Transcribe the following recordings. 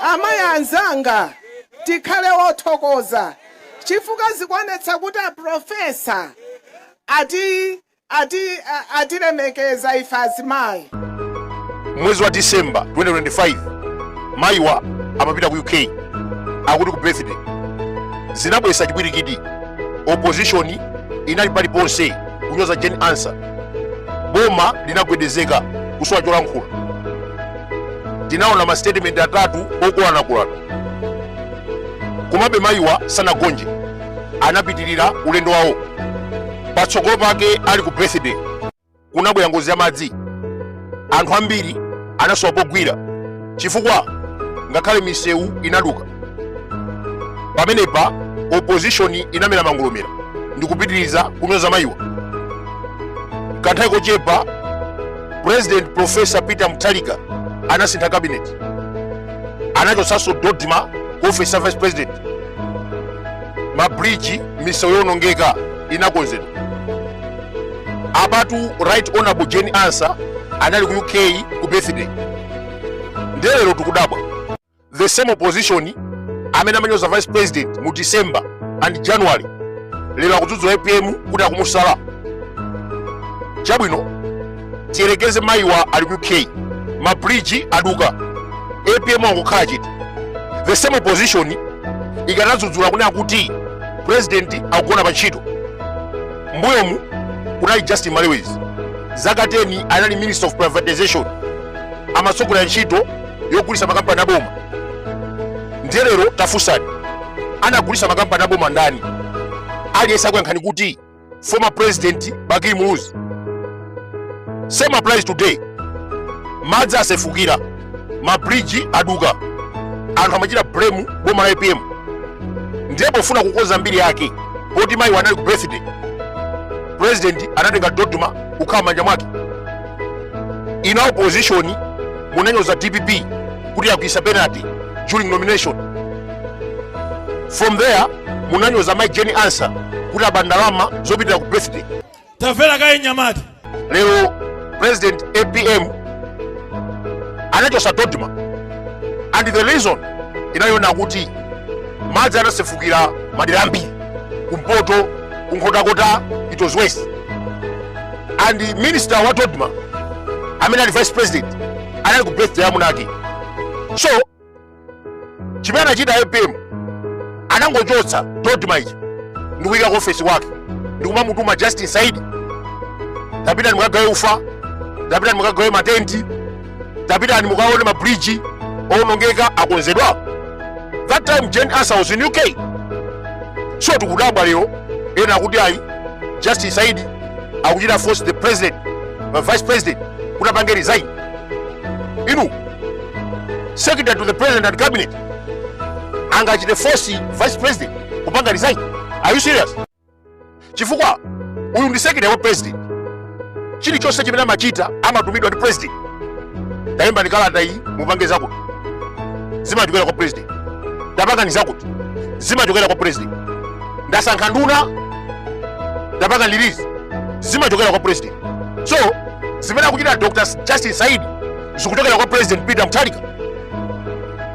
Amayi anzanga, tikhale othokoza chifukwa zikuonetsa kuti a Professor atilemekeza ife azimayi. Mwezi wa December 2025 mayiwa amapita ku UK akuti ku birthday. Zinabweretsa chipwirikiti, opposition inali paliponse kunyoza Jane Ansah, boma linagwedezeka kusowa cholankhula. tinaona masitetimenti atatu okolanakolana komabe mayiwa sanagonje anapitirira ulendo wawo patsogolo pake ali ku birthday kunabwera ngozi ya madzi anthu ambiri anasowa pogwira chifukwa ngakhale misewu inaduka pamenepa opposition inamera mangolomera ndikupitiriza kunyoza mayiwa kanthawi kochepa president profesa peter mutharika anasintha kabineti anachotsanso dodma ku office ya vice president mabridge misewu yonongeka inakonzedwa apatu right honorable jane ansah anali ku uk ku birthday ndelero tikudabwa the same opposition amene amanyoza vice president mu december and january lero akudzudzula apm kuti akumusala chabwino tiyerekeze mayiwa ali ku uk mabridge aduka apm angokhala chete the same opposition ikanadzudzula kunena kuti president akugona pa ntchito mbuyomu kunali justin malewezi zaka 10 anali minister of privatization amatsogolera ntchito yogulitsa makampani aboma ndiye lero tafunsani anagulitsa makampani aboma ndani aliyense akuyankhani kuti former president bakili muluzi same applies today madzi asefukira mabridge aduka anthu amachita blame boma la apm ndiye pofuna kukonza mbiri yake poti mayiwa anali ku birthday president anatenga dodma kukhala m'manja mwake inu a opposition munanyoza dpp kuti yagwiritsa penalty during nomination from there munanyoza mayi jane ansah kuti aba ndalama zopitira ku birthday tamvera kaye mnyamata lero president apm anachotsa dodma and the reason inali yonena kuti madzi anasefukira madera ambiri kumpoto ku nkhotakota it was worse and the minister wa dodma amene ali vice president anali ku birthday ya amunake so chimene anachita apm anangochotsa dodma ija ndikuyika ku ofesi kwake ndikumamutuma justin saidi tapitani mukagawe ufa tapitani mukagawe matenti tapitani mukaone ma bridge owonongeka akonzedwa that time Jane Ansah was in UK so tikudabwa lero ena akuti ayi justin saidi akuchita force the president vice president kuti apange resign inu secretary to the president and cabinet angachite force vice president kupanga resign are you serious chifukwa uyu ndi secretary kwa president chilichonse chimene amachita amatumidwa ndi president ndayimba ndi kalata iyi mupange zakuti zimachokera kwa president ndapangani zakuti zimachokera kwa president ndasankha nduna ndapanga release zimachokera kwa president so zimene akuchita dr justin saidi zikuchokera kwa president peter mutharika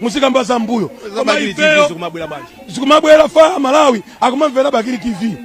muzikamba za mbuyo koma ifeyo zikumabwera faya malawi akumamvera bakili tv